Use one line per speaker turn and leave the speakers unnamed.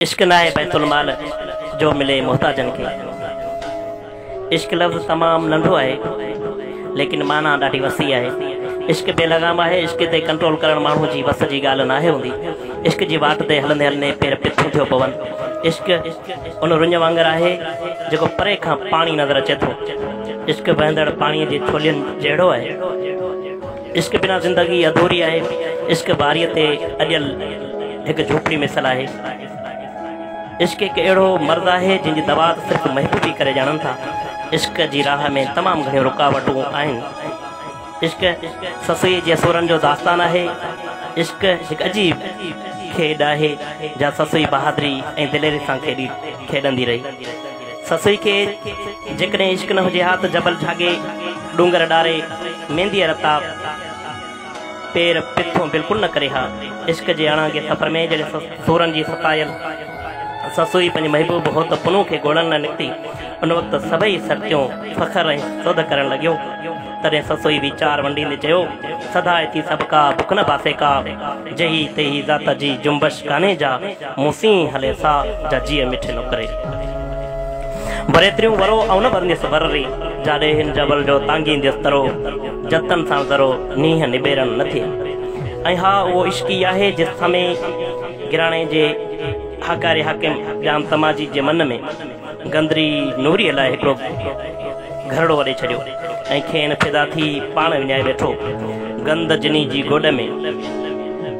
عشق ناهي بيت المال جو ملي محتاجن کي عشق لفظ تمام ننڍو آهي ليڪن معنيٰ ڏاڍي وسيع آهي عشق بي لغام آهي عشق تي ڪنٽرول ڪرڻ ماڻهو جي وس جي ڳالهه ناهي هوندي عشق جي واٽ تي هلندي هلندي پير پٺيون ٿيو پون عشق ان رڃ وانگر آهي جيڪو پري کان پاڻي نظر اچي ٿو عشق وهندڙ پاڻي جي ڇولين جهڙو آهي عشق بنا زندگي اڌوري آهي. عشق باريء تي اڏيل هڪ جهوپڙي مثل آهي. عشق هڪ اهڙو مرض آهي، جنهن جي دوا ته صرف محبوب ئي ڪري ڄاڻن ٿا. عشق جي راهه ۾ تمام گهڻيون رڪاوٽون آهن. عشق سسئيء جي سورن جو داستان آهي. عشق هڪ عجيب کيڏ آهي، جا سسئي بهادري ۽ دليري سان کيڏي کيڏندي رهي. سسئي کي جيڪڏهن عشق نه هجي ها ته جبل جهاڳي، ڏونگر ڏاري، مينديء رتاب، پير پٿون بلڪل نه ڪري ها. عشق جي اڻانگي سفر ۾ جڏهن سورن جي ستايل سسئي پنهنجي محبوب هوت پنهون کي ڳولڻ لاء نڪتي، ان وقت سڀئي سرتيون فخر ۽ سوڌ ڪرڻ لڳيون. تڏهن سسئي ويچار ونڊيندي چيو، سڌا اٿي سڀڪا بک نه باسيڪا، جهي تهي ذات جي جنبش ڪانهي جا. مون سين هلي سا جا جيء مٺي نوڪري بريتريون ورو او نه برنديس ورري جا ڏيهين جبل جو تانگينديس ترو جتن سان ذرو نينهن نبيرن نه ٿي ۽ ها اهو عشق ئي آهي جي سمي گراڻي جي هاڪاري حاڪم ڄام تماجي جي من ۾ گندري نوري لاء هڪڙو گهرڙو وڏي ڇڏيو ۽ کين فدا ٿي پاڻ وڃائي ويٺو گند جني جي گوڏ ۾